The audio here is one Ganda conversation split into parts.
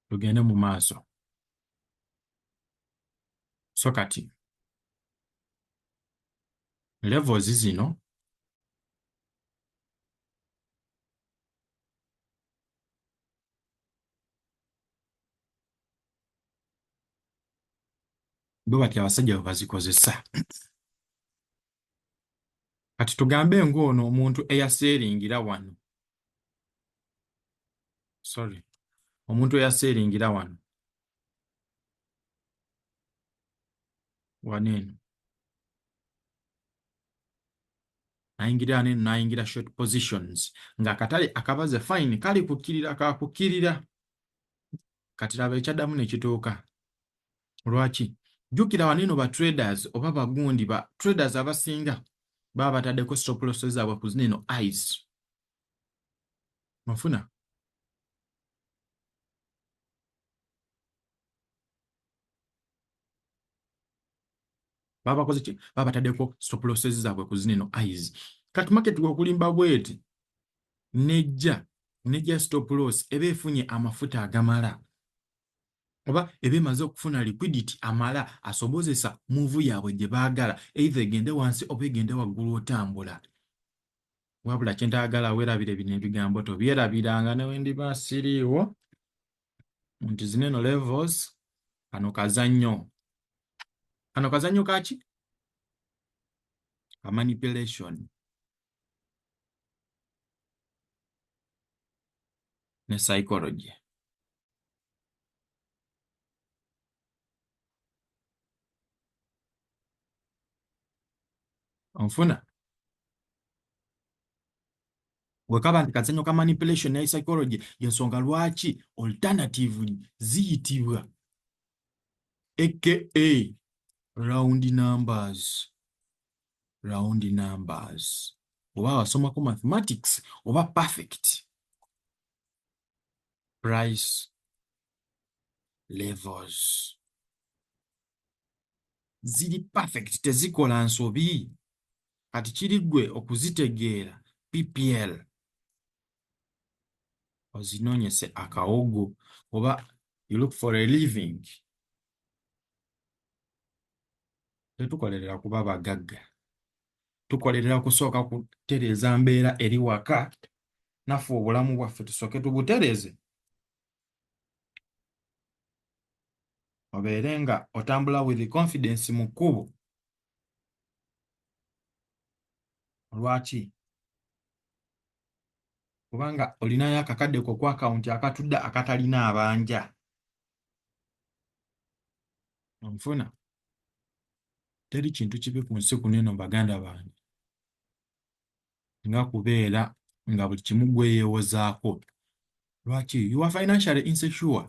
tugende mu maaso so kati levels zino bwe batya abasajja bwe bazikozesa kati tugambe ng'ono omuntu eyaseeringira wano sorry omuntu eyaseeringira wano wano eno nayingira wano eno nayingira short positions ng'akatale akabaze fine kali kukkirira kakukirira kati laba ekyaddamu ne kituuka lwaki jukira wano eno ba traders oba bagundi ba traders abasinga baba batadeko stop loss zaabwe ku zino eno ice mafuna babakoze ki babatadeko stop loss zaabwe ku zino eno ice kati market gwokulimba bweti nejja nejja stop loss eba efunye amafuta agamala oba eba emaze okufuna liquidity amala asobozesa muuvu yaabwe gye baagala either egende wansi oba egende waggulu otambula wabula kye ntaagala weerabire bino ebigambo tobyerabiranga ne we ndiba siriiwo nti zino eno levels kano kazannyo kano kazannyo kaki ka manipulation ne psychology onfuna wekaba nti kazanyo ka manipulation naye psychology yensonga lwaki alternative ziyitibwa aka round numbers round numbers oba wasomako mathematics oba perfect price levels ziri perfect tezikola nsobi kati kiri gwe okuzitegeera ppl ozinonyese akawogo oba you look for a living tetukolerera kuba bagagga tukolerera kusooka kutereeza mbeera eri waka naffe obulamu bwaffe tusooke tubutereeze obeere nga otambula with confidence mu kkubo olwaki kubanga olinayo akakadde ko ku akawunti akatudde akatalina abanja onfuna teri kintu kibi ku nsi kuneno baganda bange nga kubeera nga buli kimu gweyewozaako lwaki you are financially insecure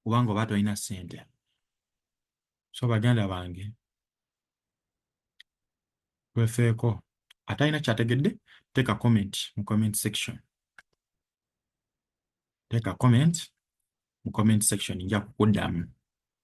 kubanga oba tolina sente so baganda bange twefeeko atalina kyategedde take a comment mu comment section take a comment mu comment section nja kukuddamu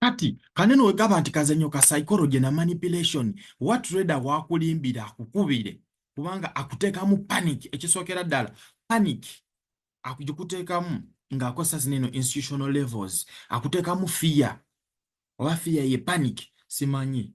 kati kanene wegaba nti kazanyo ka psychology na manipulation what reda wakulimbira akukubire kubanga akuteekamu panic ekisookera ddala panic akugikuteekamu ng'akozesa zino eno institutional levels akuteekamu fiya oba fiya ye panic simanyi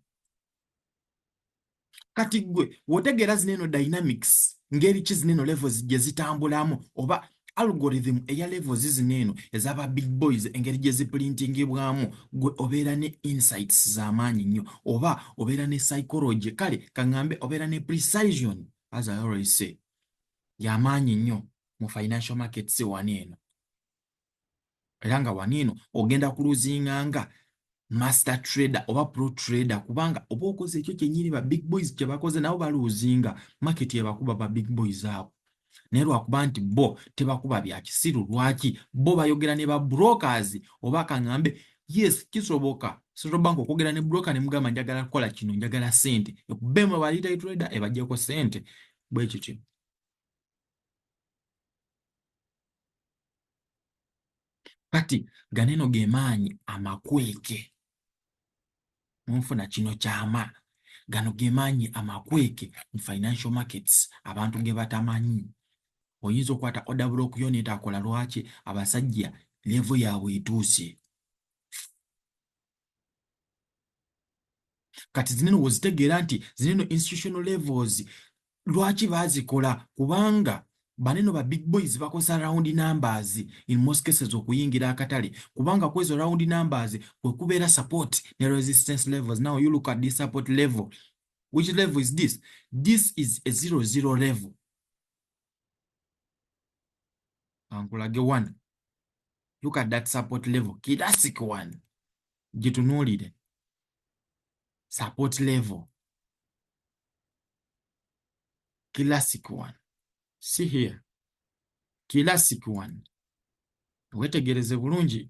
kati gwe wotegeera zino eno dynamics ngeri ki zino eno levels gye zitambulamu oba algorithm eya levels zino eno ezaba big boys engeri gye ziprintingibwamu gwe obeera ne insights z'amaanyi nnyo oba obeera ne psychology kale kaŋŋambe obeera ne precision as i always say y'amaanyi nnyo mu financial markets wano eno era nga waniino ogenda kuluzinga nga master trader oba pro trader kubanga oba okoze ekyo kyenyini ba big boys kyebakoze nabo baluzinga market yebakuba ba big boys abo naye lwakuba nti bo tebakuba bya kisiru lwaki bo bayogera ne ba brokers oba kaŋambe yes kisoboka central bank okwogera ne broker ne mugamba njagala kukola kino njagala sente ekubemu aba retail trader ebajjeko sente bwekityo kati ganeno gemaanyi amakweke munfuna kino kyama gano gemaanyi amakweke mu financial markets abantu ge batamanyi oyinza okwata order block yo netakola lwaki abasajja levo yaabwe etuuse kati zineno wozitegeera nti zineno institutional levels lwaki bazikola kubanga baneno ba big boys bakozesa round numbers in most cases okuyingira akatale kubanga kwezo round numbers kwekubeera support ne resistance levels now you look at this support level which level is this this is a zero zero level ankulage one look at that support level kidasik one gitunuulire support level classic one see here classic one wetegereze bulungi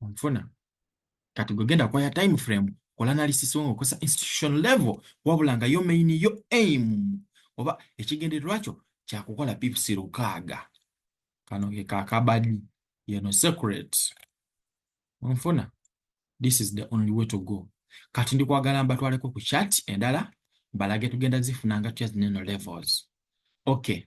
onfuna kati gwe genda kwaya time frame kola analysis wo ngaokozesa institution level wabula nga yo main yo aim oba ekigendererwa kyo kyakukola pips lukaaga kano ke kakabadi yeno secret onfuna this is the only way to go kati ndi kwagala mbatwaleko ku chat endala balage tugenda zifuna nga tuya zineno levels okay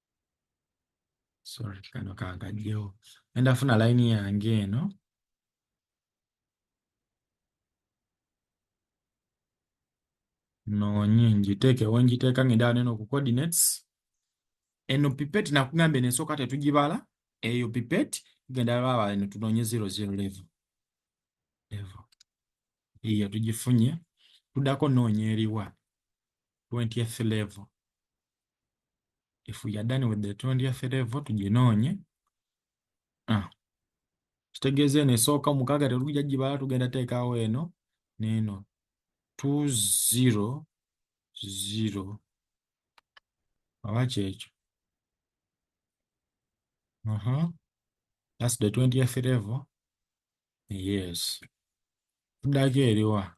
sorry kano kankajjewo enda funa layini yange eno noonye ngiteekewo ngiteeka ngenda wano eno ku coordinates eno pipet nakugambye nensooka tetugibala eyo pipet tugenda baba eno tunoonye zero zero level level eyo tugifunye tudako noonya eriwa 20th level if we are done with the tondi yaffe level tuginoonye ah. kitegeeza eno esooka mukaaga tetugija gibala tugenda teekaawo eno neeno two zero zero oba kyekyo uh -huh. that's the twentieth level yes tuddako eriwa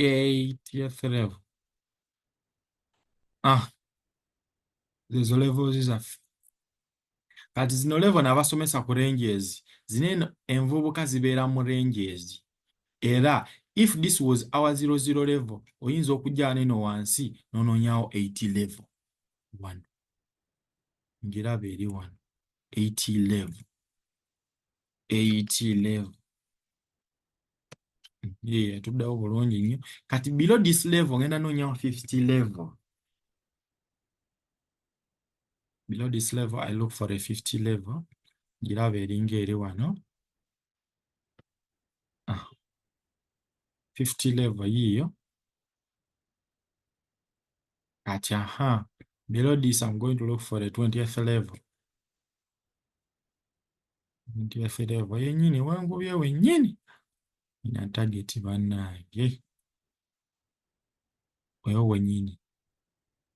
80th level ah zezo levels zaffe kati zino level nabasomesa ku ranges zino eno envubuka zibeera mu ranges era if this was our 00 level oyinza okujjana eno wansi nononyawo 80 level wano ngiraba eri wano 80 level 80 level Yeah, tuddawo bulungi nnyo kati below this level ngenda noonya 50 level below this level i look for a 50 level giraba eringa eri wano ah. 50 level yiyo kati aha below this i'm going to look for a 20th level Ebintu byaffe level yennyini wangubye wennyini. Nina tageti bannange. Oyo wennyini.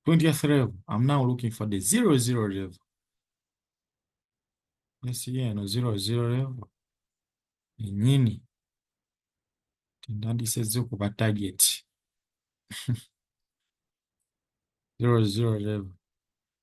20th level. I'm now looking for the zero zero level. Yes, yeah, no zero zero level. Yennyini. Tendandisezze okuba tageti. zero zero level.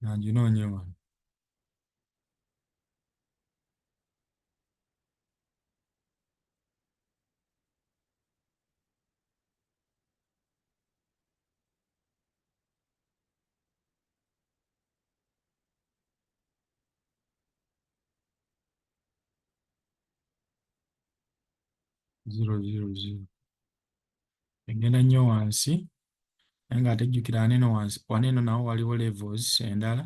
nanginoonye wano zero zero zero egenda nnyo wansi naye nga ate jjukira wano eno wansi wano eno nawo waliwo levels endala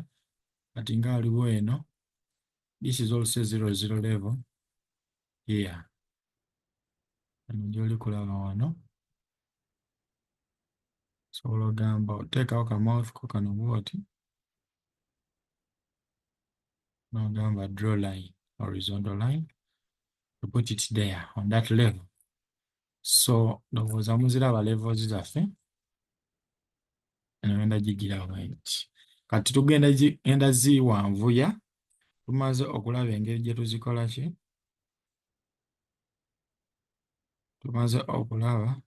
kati nga waliwo eno this is also zero zero level here eno gyoli kulaba wano sobola ogamba oteekawo kamouth ko kano bwoti n'ogamba draw line horizontal line to put it there on that level so ndowooza muziraba levels zaffe eno ngenda gigira bwenti kati tugenda genda ziwanvuya tumaze okulaba engeri gye tuzikola ki tumaze okulaba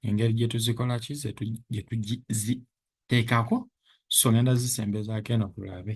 engeri gye tuzikola ki gye tuziteekako so ngenda zisembezaako eno tulabe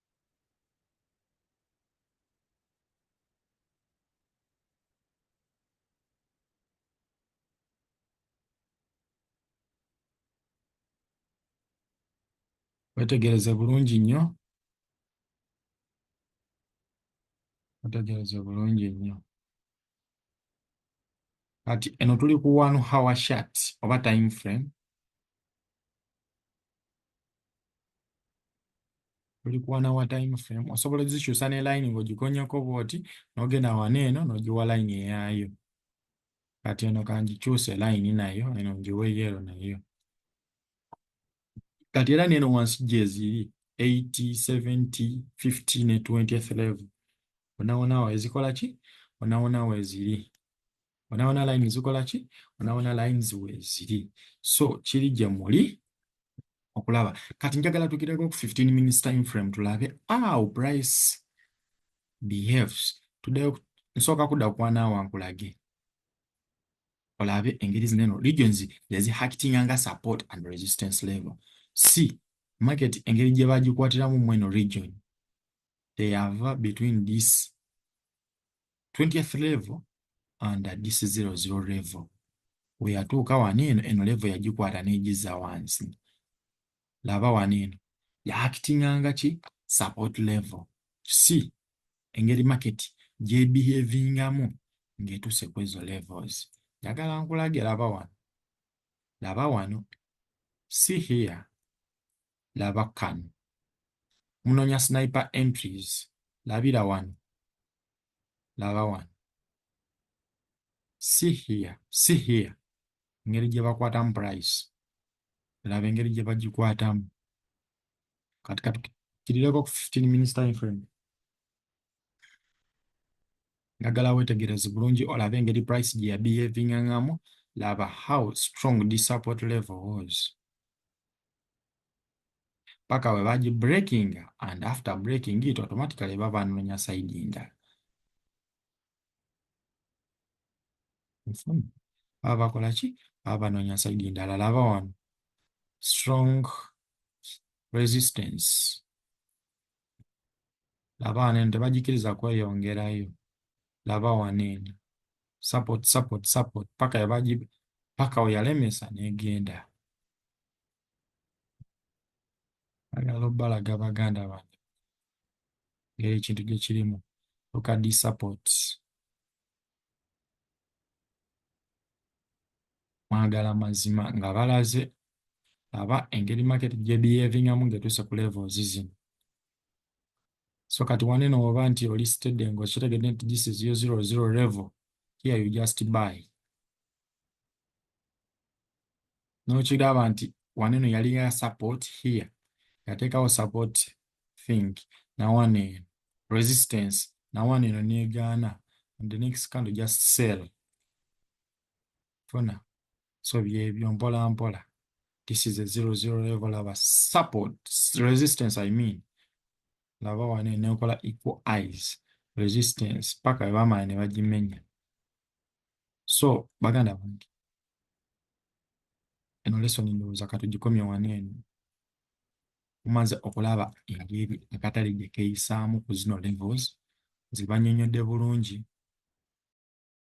wetegereze bulungi nnyo wetegereze bulungi nnyo kati eno tuli ku one hour shot oba time frame tuli ku one hour time frame osobola ozikyusa ne line ng'ogikonyeko bwoti n'ogenda wano eno n'ogiwa line eyaayo kati eno kangikyuse line nayo eno ngiwe yero nayo kati era neno wansi gyeziri 80 70 50 ne 20th level onawona wa ezikola ki onawona weziri onawona line zikola ki onawona lines weziri so kiri gye muli okulaba kati njagala tugireko ku 15 minutes time frame tulabe aw price behaves tudeyo nsooka kudda kwana wankulage olabe engeri zineno regions yazihakitinga nga support and resistance level c market engeri gye bagikwatiramu mweno region they have between this 20th level and this 00 level weyatuuka wano eno eno level yagikwata n'egiza wansi laba wano eno yaakitinganga ki support level si engeri market gyebihevingamu ng'etuuse ku ezo levels njagala nkulage laba wano laba wano si here laba kano munonya sniper entries labira wano laba wano si here si here engeri gye bakwatamu price laba engeri gye bagikwatamu kati katukirireko ku 15 minutes time frame njagala wetegereze bulungi olabe engeri price gye yabehavingangamu laba how strong this support level was paka we baji breaking and after breaking it automatically baba nonya side endala baba bakola ki baba banonya side endala laba wano strong resistance laba wano eno tebagikiriza kweyongerayo laba wano eno support support support paka yabaji paka we yalemesa negenda agala obalaga baganda bange ngeri ekintu gye kirimu okadi support mwagala mazima nga balaze aba engeri market gye behavingamu ngetuuse ku levels zino so kati waneno oba nti oli steady nga okitegedde nti this is your zero zero level here you just buy n'okiraba nti wano eno yali ya support here yateekawo support think na wano eno resistance na wano eno negaana and the next candle just sell funa so byebyo mpola mpola this is a zero zero level of a support resistance i mean laba wano eno ekola equal eyes resistance paka webamala ne bagimenya so baganda bange eno lesoni ndowooza katugikomye wano eno mumaze okulaba engeri akatale gye keeyisaamu ku zino levels zibanyonyodde bulungi